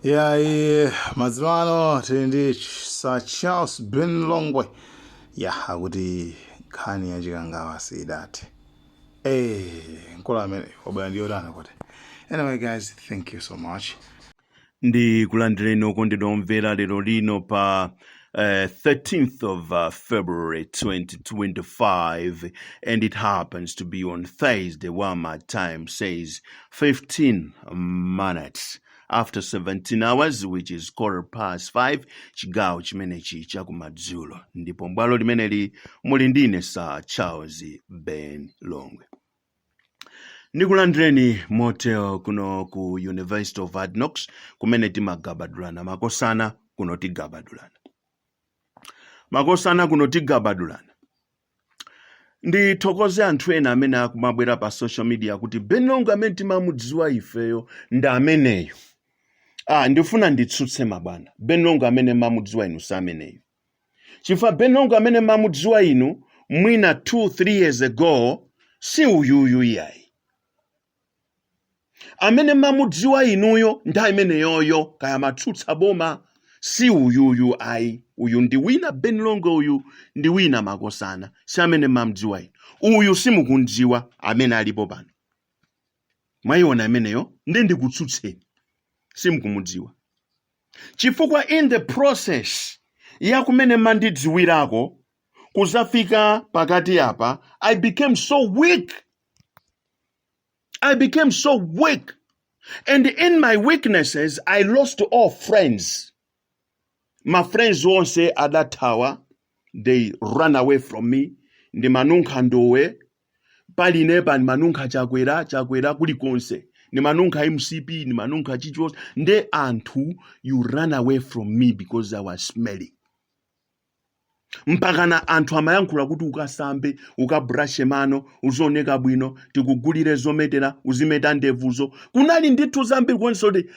yayi madzulo ano tili ndi sir charles ben longwe ya akuti nkhani ya chikangawa siidathe eh mkulu amene wabwera ndi yotana kuti anyway guys thank you so much ndi kulandireni okondedwa omvera lero lino pa uh, 13th of uh, February 2025, and it happens to be on Thursday, while my time says 15 minutes after 17 hours which is quarter past 5 chigawo chimenechi chakumadzulo ndipo mbwalo limeneli muli ndine sir charles ben longwe ndikulandireni motere kuno ku university of hard knocks kumene timagabadulana makosana kuno tigabadulana makosana kuno tigabadulana ndithokoze anthu ena amene akumabwera pa social media kuti ben longwe amene timamudziwa ifeyo ndi ameneyo ah, ndifuna nditsutse mabwana ben longwe amene mamudziwa inu si ameneyo chifukwa ben longwe amene mamudziwa inu mwina 2 3 years ago si uyuyu iyayi amene mamudziwa inuyo nthawi imeneyoyo kaya matsutsa boma si uyuyu ayi uyu ndi wina ben longwe uyu ndi wina makosana si amene mamdziwa inu uyu simukumdziwa amene alipo pano mwayiona imeneyo nde ndikutsutseni simkumudziwa chifukwa in the process ya kumene mandidziwirako kuzafika pakati apa i became so weak i became so weak and in my weaknesses i lost all friends ma friends onse adathawa they ran away from me ndimanunkha ndowe paliponse ndimanunkha chakwera chakwera kulikonse ndimanunkha mcp ndimanunkha chichos nde anthu you ran away from me because i was smelling mpakana anthu amayankhula kuti ukasambe ukabrashe mano uzioneka bwino tikugulire zometera uzimeta ndevuzo kunali ndithu zambiri konsoti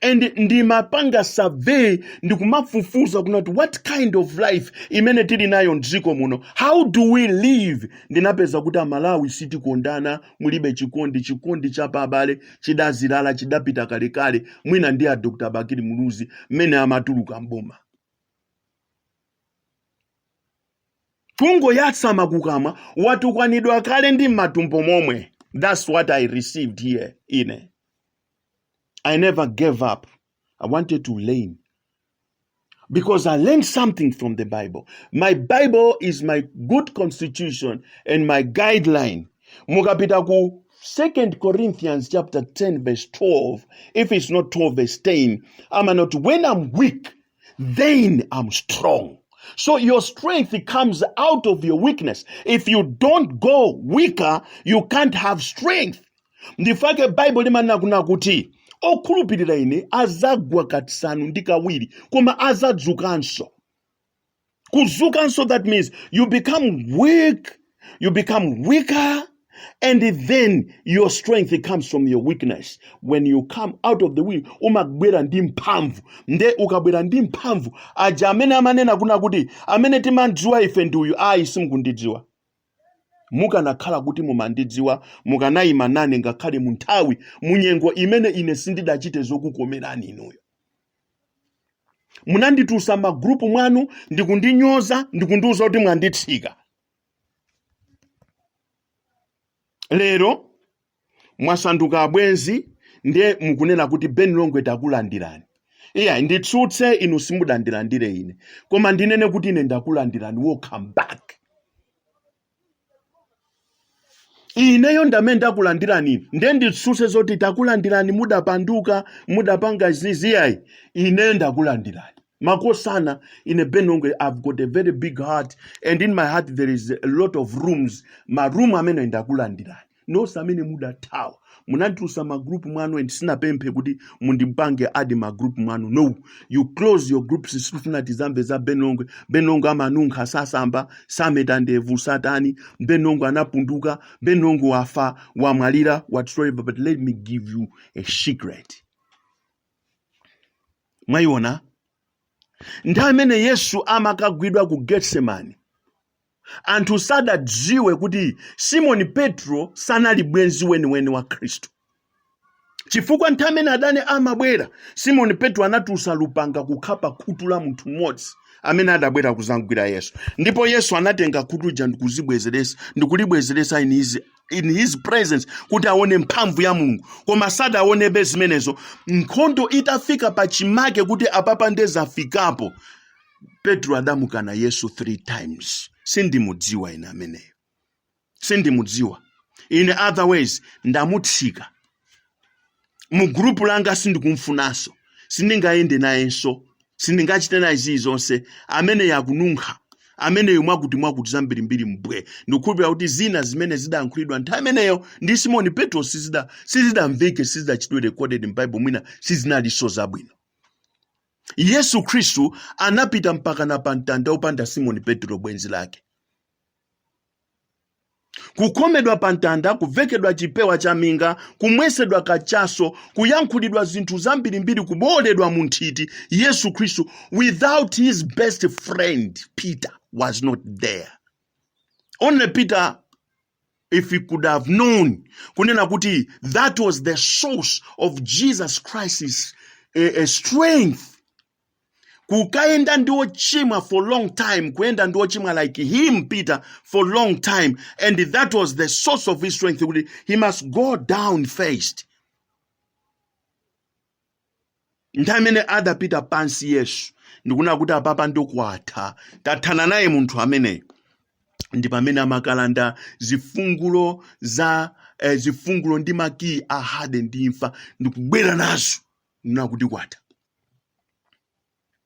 and ndimapanga survey ndikumafufuza kunena kuti what kind of life imene tili nayo mdziko muno how do we live ndinapeza kuti amalawi sitikondana mulibe chikondi chikondi cha pa abale chidazilala chidapita kalekale mwina ndi a dr bakili muluzi mmene amatuluka mboma kungoyatsa makukamwa watukwanidwa kale ndi m'matumbo momwe that's what i received here ine i never gave up i wanted to learn because i learned something from the bible my bible is my good constitution and my guideline mukapita ku 2 corinthians chapter 10 verse 12 if it's not 12 verse 10 i'm not when i'm weak then I'm strong. So your strength comes out of your weakness. If you don't go weaker, you can't have strength. Nchifukwa chake Bible limanena kunena kuti okhulupirira ine azagwa kasanu ndi kawiri koma azadzukanso. kuzukanso that means you become weak you become weaker and then your strength comes from your weakness when you come out of the wilderness umabwera ndi mphamvu nde ukabwera ndi mphamvu aja amene amanena kuna kuti amene timamdziwa ife ndi uyu ayi simukundidziwa mukanakhala kuti mumandidziwa mukanayima nane ngakhale mu nthawi munyengo imene ine sindidachite zokukomerani inuyo munanditutsa m'magrupu mwanu ndikundinyoza ndikundiuza kuti mwanditsika lero mwasanduka abwenzi ndiye mukunena kuti ben longwe takulandirani iyayi nditsutse inu simudandilandire ine koma ndinene kuti ine ndakulandirani welcome back ineyo ndamene ndakulandirani nde nditsutse zoti takulandirani mudapanduka mudapanga zizi iyayi ine ndakulandirani makosana ine ben longwe i've got a very big heart and in my heart there is a lot of rooms ma room amene ndakulandirani nonse amene mudathawa munanditusa ma group mwanu and sinapemphe kuti mundipange add m'ma group mwanu no you close your groups sikufuna tizamve za ben longwe ben longwe amanunkha sasamba sameta ndevu satani ben longwe anapunduka ben longwe wafa wamwalira whatsoever but let me give you a secret mwayiona nthawi imene yesu amakagwidwa ku getsemani anthu sadadziwe kuti Simoni Petro sanali bwenzi weniweni wa Khristu. Chifukwa nthawi imene adani amabwera, Simoni Petro anatutsa lupanga kukhapa khutu la munthu mmodzi amene adabwera kuzamgwira Yesu. Ndipo Yesu anatenga khutu lija ndikuzibwezeretsa ndikulibwezeretsa in his, in his presence kuti aone mphamvu ya Mulungu. Koma sadaonebe zimenezo. Nkhondo itafika pachimake kuti apapa nde zafikapo, petro adamukana yesu 3 times sindimudziwa ine ameneyo sindimudziwa in other ways ndamutsika mu group langa sindikumfunanso sindingayende nayenso sindingachite naye zilizonse ameneyo akununkha ameneyo mwakuti mwakuti zambirimbiri mbwe ndikhulupirira kuti zina zimene zidayankhulidwa nthawi imeneyo ndi simoni petro sizida- sizidamveke sizidachitwe recorded m'bible mwina sizinalinso zabwino Yesu Khristu anapita mpakana pa mtanda opanda Simoni Petro bwenzi lake. Kukhomedwa pa mtanda, kuvekedwa chipewa cha minga, kumwesedwa kachaso, kuyankhulidwa zinthu zambirimbiri, kubowoledwa mu nthiti, Yesu Khristu without his best friend Peter was not there. Only Peter if he could have known kunena kuti that was the source of jesus christ's eh, eh, strength kukayenda ndi ochimwa for long time kuyenda ndi ochimwa like him peter for long time and that was the source of his strength kuti he must go down first nthawi imene adapita pansi yesu ndikuona kuti apapa ndokwatha tathana naye munthu ameneyo ndi pamene amakalanda zifungulo za eh, zifungulo ndi makiyi a hades ndi imfa ndikubwera nazo nena kuti kwatha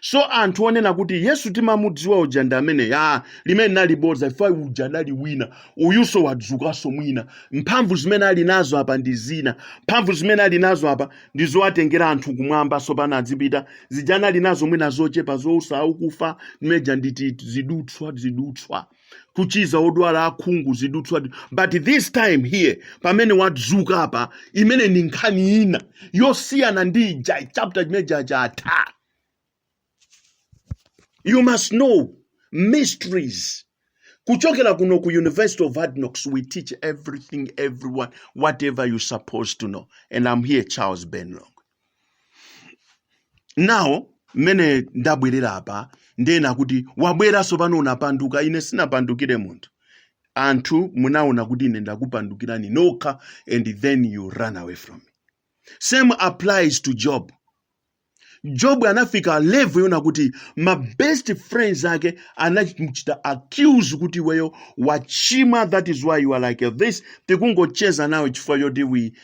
so anthu onena kuti yesu timamudziwa uja ndi mmene ya limene linali bodza chifukwa uja adali wina uyuso wadzukanso mwina mphamvu zimene ali nazo apa ndi zina mphamvu zimene ali nazo apa ndi zowatengera anthu kumwamba sopano adzipita zija anali nazo mwina zochepa zowutsa akufa zimene zija ndi ti zidutswa zidutswa kuchiza odwala akhungu zidutswa but this time here pamene wadzuka apa imene ni nkhani ina yosiyana ndi ija chapter chimene chija chatha you must know mysteries kuchokera kuno ku university of hard knocks we teach everything everyone whatever you're supposed to know and i'm here charles ben longwe now mmene ndabwerera apa ndiyena kuti wabweranso pano unapanduka ine sinapandukire munthu anthu munaona kuti ine ndakupandukirani nokha and then you run away from me same applies to job job anafika level yonena kuti ma best friends ake anamuchita accuse kuti iweyo wachimwa that is why you are like this tikungocheza nawe chifukwa choti we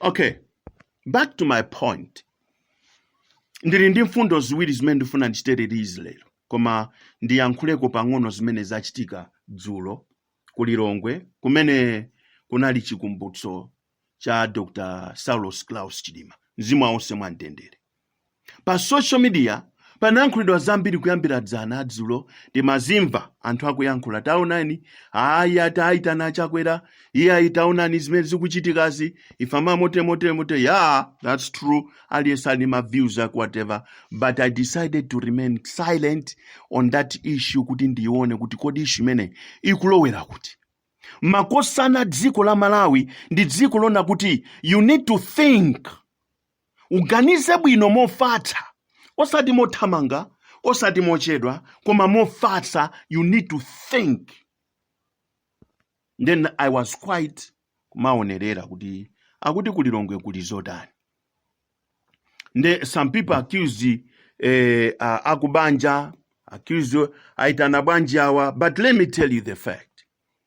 okay back to my point ndili ndi mfundo ziwiri zimene ndifuna ndichite release lero koma ndiyankhuleko pang'ono zimene zachitika dzulo ku lilongwe kumene kunali chikumbutso cha dr saulos klaus chilima mzimu wawo uwuse mwamtendere Pa social media panayankhulidwa zambiri kuyambira dzana dzulo timazimva anthu akuyankhula taonani ayi ati aitana achakwera iye ayi taonani zimene zikuchitikazi ife amamote mote mote yeah that's true aliyense ali ndi ma views ake whatever but i decided to remain silent on that issue kuti ndione kuti kodi issue imene ikulowera kuti makosana dziko la malawi ndi dziko lonena kuti you need to think Uganize bwino mofatsa, osati mothamanga, osati mochedwa, koma mofatsa. You need to think. Then I was quiet kumaonerera kuti akuti ku Lilongwe kuli zotani. Nde some people accuse eh, a- akubanja accuse aitana bwanji awa but let me tell you the fact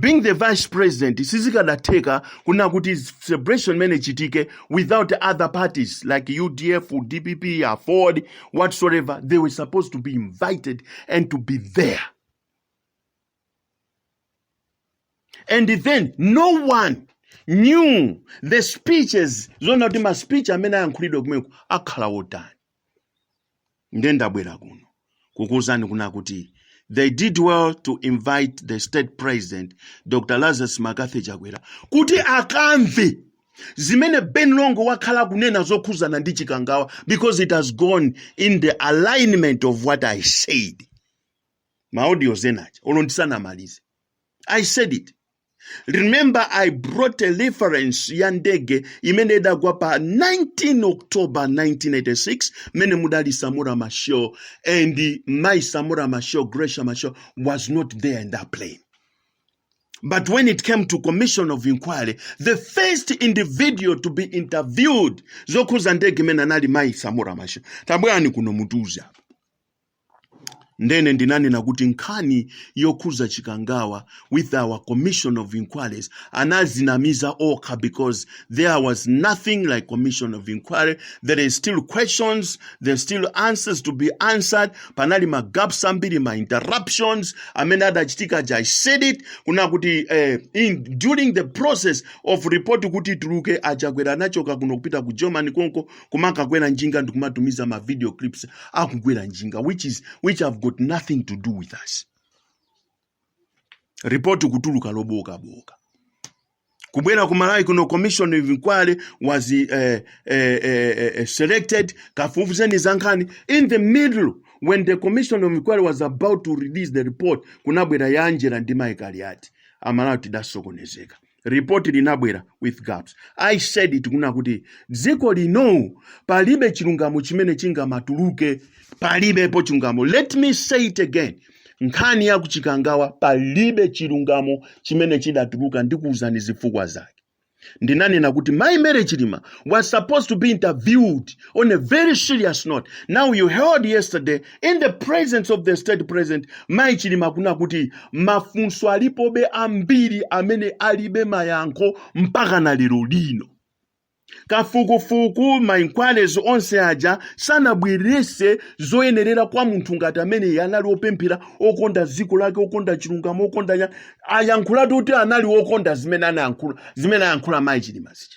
being the vice president sizikadatheka kuna kuti celebration imene ichitike without other parties like udf dpp aford whatsoever they were supposed to be invited and to be there and then no one knew the speeches zona kuti maspeech amene ayankhulidwa kumeneko akhala wotani nde ndabwera kuno kukuwuzani kuna kuti they did well to invite the state president dr lazarus mccarthy chakwera kuti akamve zimene ben longwe wakhala kunena zokhuzana ndi chikangawa because it has gone in the alignment of what i said maaudios enawa olo ndisanamalize i said it remember i brought a reference ya ndege imene idagwa pa 19 october 1986 mene mudali samura machel and my samura machel gracia machel was not there in that plane But when it came to commission of inquiry, the first individual to be interviewed zokhuza ndege imene anali mayi Samora Machel. Tabwerani kuno mutiuze apa. ndene ndinanena kuti nkhani yokhuza chikangawa with all commission of inquiries anazinamiza okha because there was nothing like commission of inquiry there is still questions there's still answers to be answered panali ma gaps ambiri ma interruptions amene adachitika aja i said it kuna kuti eh, in, during the process of report kuti ituluke a chakwera anachoka kuno kupita ku germany konko kumakakwera njinga ndikumatumiza ma video clips akukwera njinga which is which have got nothing to do with us report kutuluka loboka boka kubwera ku malawi kuno commission of inquiry was eh, eh, eh, eh, eh, selected kafufuzeni za nkhani in the middle when the commission of inquiry was about to release the report kunabwera ya angela ndi michael yati amalawi tidasokonezeka report linabwera with gaps i said it kuna kuti dziko lino palibe chilungamo chimene chingamatuluke palibepo chilungamo let me say it again nkhani ya kuchikangawa palibe chilungamo chimene chidatuluka ndikuuzani zifukwa zake ndinanena kuti mai mary chilima was supposed to be interviewed on a very serious note now you heard yesterday in the presence of the state president mai chilima kuna kuti mafunso alipobe ambiri amene alibe mayankho mpaka na lero lino kafukufuku mainquiries onse aja sanabweretse zoyenerera kwa munthu ngati amene anali opemphera okonda dziko lake okonda chilungamo okonda nya- ayankhulatu kuti anali okonda zimene anayankhula zimene ayankhula mai chilima zija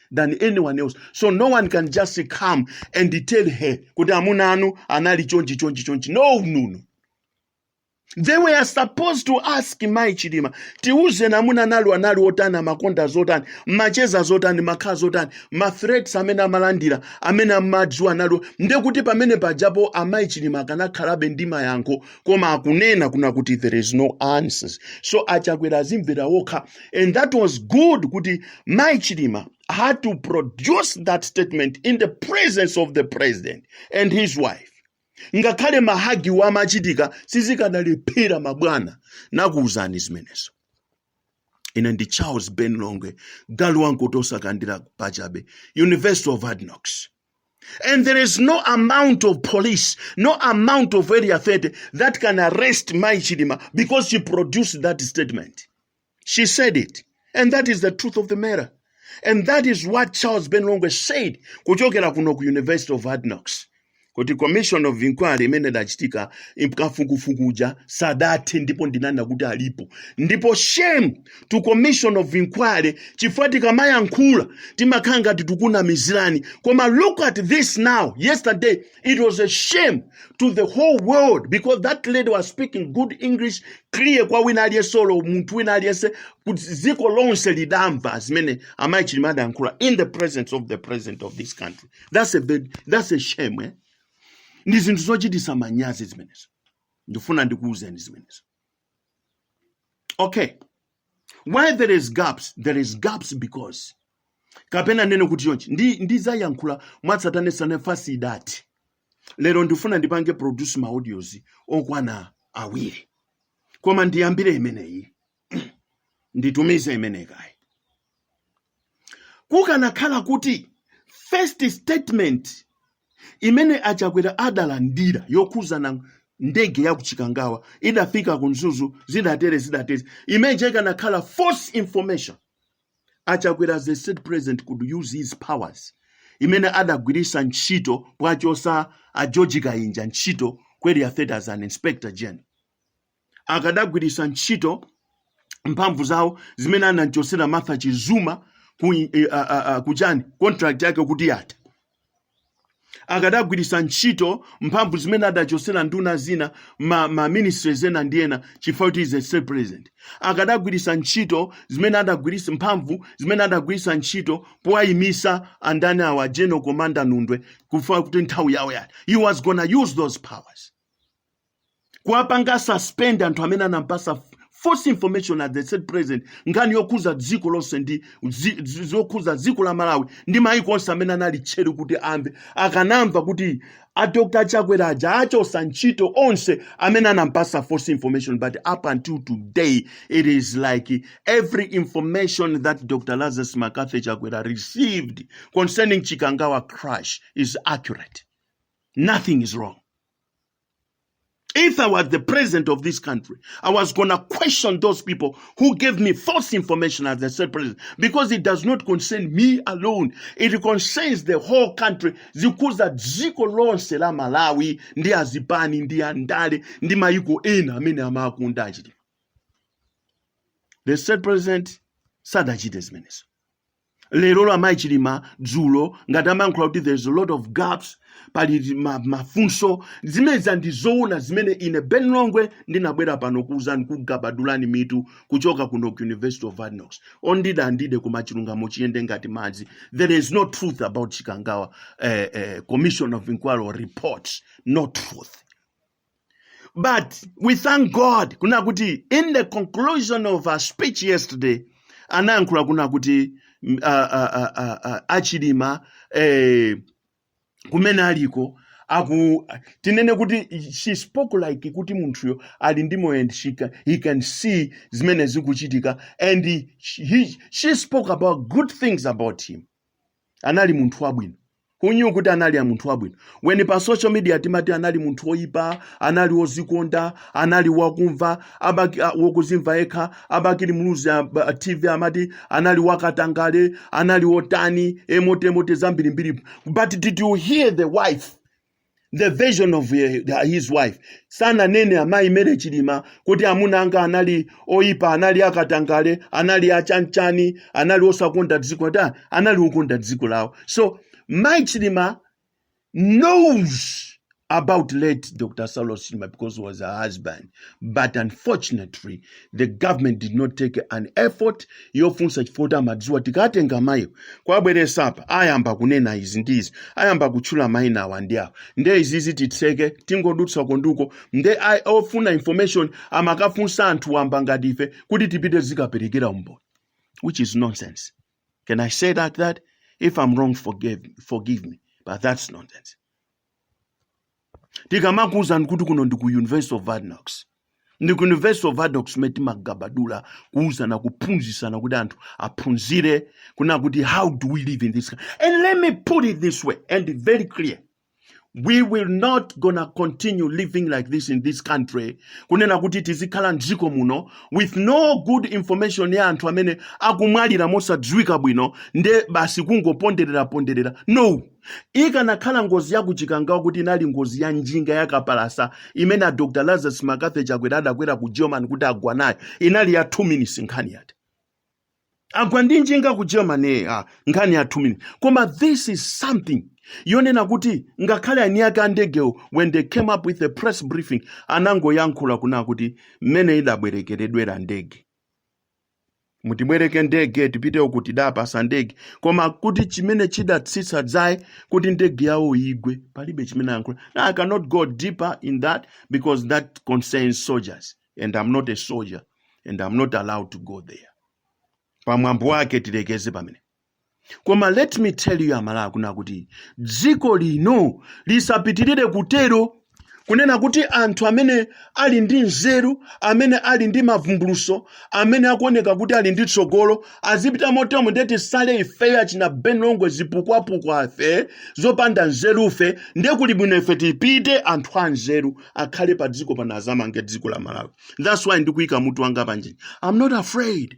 than anyone else so no one can just come and tell her kuti amuna anu anali chonchi chonchi chonchi no no no they were supposed to ask mai chilima tiuzeni amuna anu anali otani amakonda zotani amacheza zotani amakhala zotani mathreats amene amalandira amene amadziwa analipo ndekuti pamene pajapo amayi chilima akanakhalabe ndi mayankho koma akunena kuna kuti there is no answers so achakwera adzimvera wokha and that was good kuti mai chilima had to produce that statement in the presence of the president and his wife ngakhale mahagiwo amachitika sizikanalephera mabwana nakuwuzani zimenezo ine ndi charles ben longwe galu wankotosa kandira pachabe university of adnox And there is no amount of police, no amount of Area 30 that can arrest Mai Chilima because she produced that statement. She said it. And that is the truth of the matter. And that is what Charles Ben Longwe said kuchokera kuno ku University of Hard Knocks. Kuti commission of inquiry imene dachitika imkafukufukuja sadati ndipo ndinana kuti alipo. Ndipo shame to commission of inquiry chifukwa tikamayankhula timakhala ngati tikukunamizirani koma look at this now yesterday it was a shame to the whole world because that lady was speaking good english clear kwa wina aliyense olo munthu wina aliyense kuti dziko lonse lidamva zimene amayi chilima adayankhula in the presence of the president of this country that's a, bad, that's a shame eh? ndi zinthu zochitisa manyazi zimenezo ndifuna ndikuwuzeni zimenezo okay why there is gaps there is gaps because kapena ndinene kuti chonchi ndizayankhula mwatsatanetsatane after that lero ndifuna ndipange produce ma audios okwana awiri koma ndiyambire imeneyi nditumize imeneyi kaye Kukanakhala kuti first statement imene a Chakwera adalandira yokhuzana ndege ya ku Chikangawa idafika ku Mzuzu zidatere zidatere, imeneja ikanakhala false information. A Chakwera as the state president could use his powers imene adagwiritsa ntchito powachosa a George Kainja ntchito ku area 30 as an inspector general. akadagwiritsa ntchito mphamvu zawo zimene anamchotsera martha chizuma ku, eh, ah, ah, ah, kuchani contract yake kuti yatha akadagwiritsa ntchito mphamvu zimene adachotsera nduna zina ma, ma ministries ena ndi ena chifukwa kuti is a state president akadagwiritsa ntchito zimene adagwiritsa mphamvu zimene adagwiritsa ntchito powayimisa andani awa general commander nundwe chifukwa kuti nthawi yawo yatha he was gonna use those powers kuwapanga suspend anthu amene anamupasa false information at the state president nkhani yokhuza dziko lonse ndi zi- zi- zokhuza dziko la malawi ndi maiko onse amene anali tcheru kuti amve akanamva kuti a dr chakwera aja achosa ntchito onse amene anamupasa false information but up until today it is like every information that dr lazarus mccarthy chakwera received concerning chikangawa crash is accurate nothing is wrong If I was the president of this country, I was gonna question those people who gave me false information as the state president because it does not concern me alone. It concerns the whole country. Zikukhuza dziko lonse la Malawi ndi azipani ndi andale ndi mayiko ena amene amakonda achiti. The state president sadachite zimenezo. lero la amayi chilima dzulo ngati amayankhula kuti there is a lot of gaps pali ma- mafunso zimenezo ndi zoona zimene ine ben longwe ndinabwera pano kuuzani kugabadulani mitu kuchoka kuno ku university of hard knocks ondida andide koma chilungamo chiyende ngati madzi there is no truth about chikangawa eh, eh, commission of inquiry or reports no truth But we thank God kuna kuti in the conclusion of her speech yesterday anayankhula kuna kuti mm, a- a- a- a- a- achilima eh, kumene aliko aku tinene kuti she spoke like kuti munthuyo ali ndi moyo and she can, he can see zimene zikuchitika and he, he, she spoke about good things about him anali munthu wabwino who knew kuti anali a munthu wabwino when pa social media timati anali munthu woyipa anali wozikonda anali wakumva abaki, a, wokuzimva yekha abakili muluzi a, a, tv amati anali wakatangale anali wotani emotemote zambirimbiri but did you hear the wife the version of ye- his wife sananene amayi mary chilima kuti amuna anga anali oyipa anali akatangale anali achanchani anali osakonda dziko ayi anali okonda dziko lawo so mayi chilima knows about late dr saulos chilima because he was her husband but unfortunately the government did not take an effort yofunsa chifukwa choti amadziwa tikatenga mayiwo kuwabweretsa apa ayamba kunena izi ndi izi ayamba kutchula mayina awa ndi awa nde izizi titseke tingodutsa konduko nde a- ofuna information amakafunsa anthu wamba ngati ife kuti tipite tikaperekere umboni which is nonsense can i say like that if i'm wrong forgive, forgive me but that's nonsense tikamakuuzani kuti kuno ndi ku university of hard knocks ndi ku university of hard knocks kumene timagabadula kuuzana kuphunzitsana kuti anthu aphunzire kuna kuti how do we live in this country? and let me put it this way and be very clear we will not gonna continue living like this in this country kunena kuti tizikhala mdziko muno with no good information ya anthu amene akumwalira mosadziwika bwino nde basi kungoponderera ponderera no Ikanakhala ngozi ya ku Chikangawa kuti inali ngozi ya njinga ya kapalasa imene a Dr. Lazarus McCarthy Chakwera adakwera ku German kuti agwa nayo, inali ya 2 minutes nkhani yatha. Agwa ndi njinga ku German eh, ah, nkhani ya 2 minutes. Koma this is something yonena kuti ngakhale eni ake a ndegewo when they came up with a press briefing anangoyankhula kuna kuti mmene idabwerekeredwera ndege mutibwereke ndege tipite uku tidawapatsa ndege koma kuti chimene chidatsitsa dzaye kuti ndege yawo igwe palibe chimene ayankhula Now, i cannot go deeper in that because that concerns soldiers and i'm not a soldier and i'm not allowed to go there pamwamba pake tilekeze pamenepo koma let me tell you amalawi kunena kuti dziko lino lisapitirire kutero kunena kuti anthu amene ali ndi nzeru amene ali ndi mavumbulutso amene akuoneka kuti ali ndi tsogolo azipita motomo nde tisale ifeyo achina ben longwe zipukwapukwafe zopanda nzerufe ndiye kuli bwino ife tipite anthu a nzeru akhale pa dziko pano azamange dziko la malawi thats why ndikuyika mutu wanga panjini i'm not afraid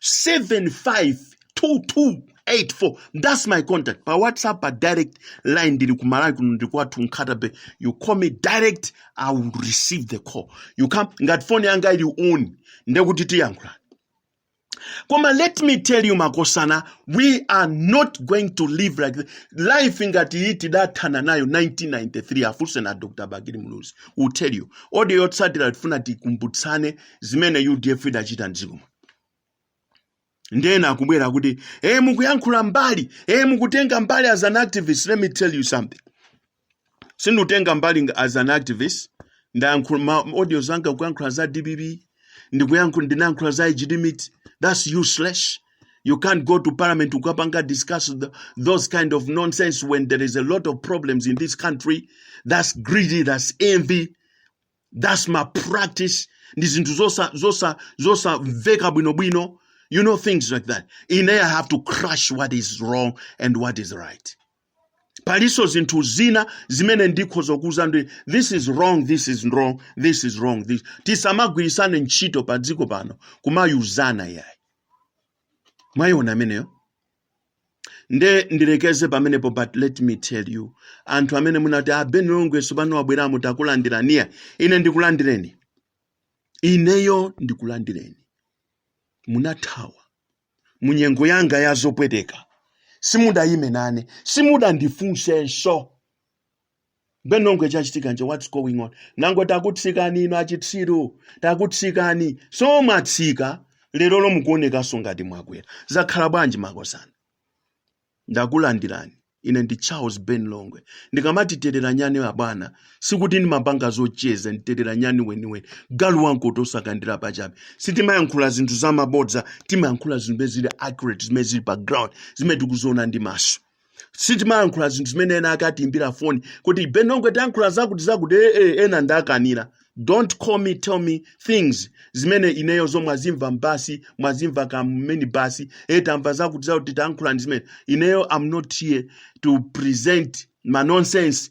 752284 that's my contact pa whatsapp pa direct line ndili ku malawi kuno ndili kwathu nkhata bay you call me direct i will receive the call you call me ngati phone yanga ili on ndekuti tiyankhulana koma let me tell you makosana we are not going to live like this. life ngati iyi tidathana nayo 1993 afunse na dr bakili muluzi will tell you audio yotsatira tifuna tikumbutsane zimene udf idachita mdziko muno ndiye ena akubwera kuti e mukuyankhula mbali e mukutenga mbali as an activist let me tell you something sindikutenga mbali nga- as an activist ndayankhula ma audio zanga kuyankhula za dpp ndikuyankhula ndinayankhula za age limit that's useless you can't go to parliament kukapanga discuss the, those kind of nonsense when there is a lot of problems in this country that's greedy that's envy that's malpractice ndi zinthu zosa zosa zosamveka bwinobwino you know things like that ine i have to crush what is wrong and what is right palinso zinthu zina zimene ndikhoza kuuza ndi this is wrong this is wrong this is wrong this tisamagwiritsane ntchito pa dziko pano kumauzana yayi mwayiona ameneyo nde ndilekeze pamenepo but let me tell you anthu amene munati a ben longwe tsopano mwabweramo takulandirani ine ndikulandireni ineyo ndikulandireni munathawa munyengo yanga yazopweteka simudayime nane simudandifunsenso Ben Longwe chachitika nchani what's going on? Nanga takutsikani inu achitsiru. Takutsikani. So mwatsika lerolo mukuonekanso ngati mwakwera. Zakhala bwanji makosana? Ndakulandirani. Ine ndi Charles Ben Longwe. Ndikamatiterera nyani abwana, sikuti ndimapanga zocheza ndi terera nyani weniweni. Galu wamkota sakandira pachabe. Sitimayankhula zinthu zamabodza, timayankhula zinthu zimene zili accurate, zimene zili pa ground, zimene tikuziona ndi maso. sitimayankhula zinthu zimene ena akatiimbira foni kuti ben longwe tiyankhula zakuti zakuti ee ena ndakanira don't call me tell me things zimene ineyo zo mwazimva basi mwazimva kameni basi e tamva zakuti zakuti tayankhulani zimene ineyo am not here to present ma nonsense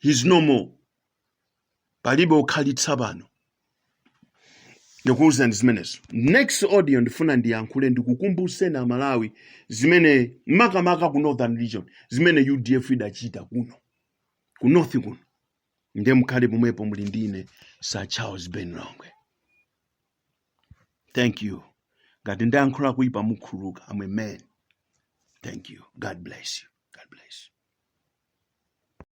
he's no more palibe okhalitsa pano ndikuwuzani zimenezo next audio ndifuna ndiyankhule ndikukumbuseni amalawi zimene makamaka ku northern region zimene udf idachita kuno ku north kuno ndiye mukhale pomwepo muli ndine sir charles ben longwe thank you ngati ndayankhula kuipa mukhululuka am a man thank you god bless you god bless you